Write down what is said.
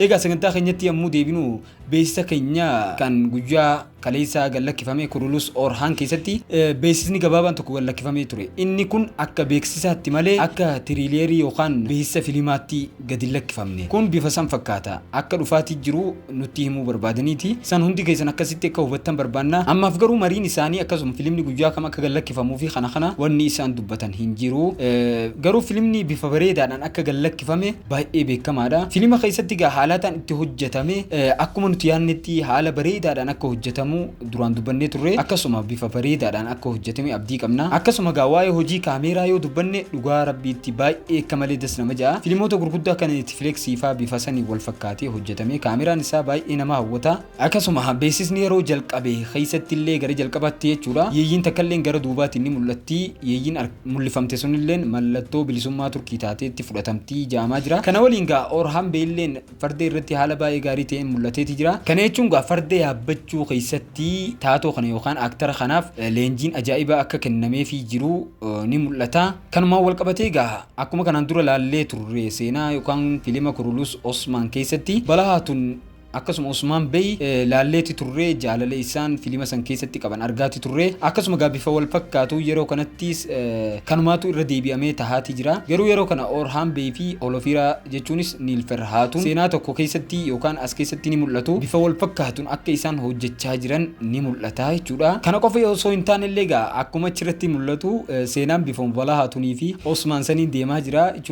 Egaa sagantaa keenyatti yommuu deebinu beeksisa keenya kan guyyaa kaleessaa gad lakkifame Kurulus Orhaan keessatti beeksisni gabaabaan tokko gad lakkifamee ture. Inni kun akka beeksisaatti malee akka tiriileerii yookaan beeksisa filimaatti gad hin lakkifamne. Kun bifa san fakkaata. Akka dhufaatii jiru nutti himuu barbaadaniiti. San hundi keessan akkasitti akka hubattan barbaanna. Ammaaf garuu mariin isaanii akkasuma filimni guyyaa kam akka gad lakkifamuu fi kana kana wanni isaan dubbatan hin jiru. Garuu filimni bifa bareedaadhaan akka gad lakkifame baay'ee beekamaadha. Filima keessatti egaa haalaataan itti hojjetame akkuma nuti yaadnetti haala bareedaadhaan akka hojjetamu duraan dubbannee turre akkasuma bifa bareedaadhaan akka hojjetame abdii qabna. Akkasuma egaa waa'ee hojii kaameeraa yoo dubbanne dhugaa rabbiitti baay'ee akka malee das nama ja'a. Filimoota gurguddaa akka Netflix faa bifa saniin wal fakkaatee hojjetame kaameeraan isaa baay'ee nama hawwata. Akkasuma beeksisni yeroo jalqabe keessatti illee gara jalqabaatti jechuudha yeeyyiin takka illeen gara duubaatiin ni mul'atti yeeyyiin mul'ifamte sun illeen mallattoo bilisummaa Turkii taateetti fudhatamti ja'amaa jira. Kana waliin gaa Orhan Bey illeen farda irratti haala baay'ee gaarii ta'een mul'ateeti jira. Kana jechuun gaa farda yaabbachuu keessatti taatoo kana yookaan aaktara kanaaf leenjiin ajaa'ibaa akka kennameefii jiru ni mul'ata. Kanumaan wal qabatee gaa akkuma kanaan dura laallee turre seenaa yookaan filima Kurulus Osman keessatti balahaa tun Akkasuma Osmaan Bey laalleeti turree jaalala isaan filima san keessatti qaban argaati turree akkasuma gaa bifa wal fakkaatuun yeroo kanattiis kanumaatu irra deebi'amee tahaati jira garuu yeroo kana Orhaan Bey fi Holofiiraa jechuunis Niilfer Haatun seenaa tokko keessatti yookaan as keessatti ni mul'atu bifa wal fakkaatuun akka isaan hojjechaa jiran ni mul'ata jechuudha kana qofa osoo hin taane illee gaa akkuma achirratti mul'atu seenaan bifa Mubalaa Haatunii fi Osmaan saniin deemaa jira jechuun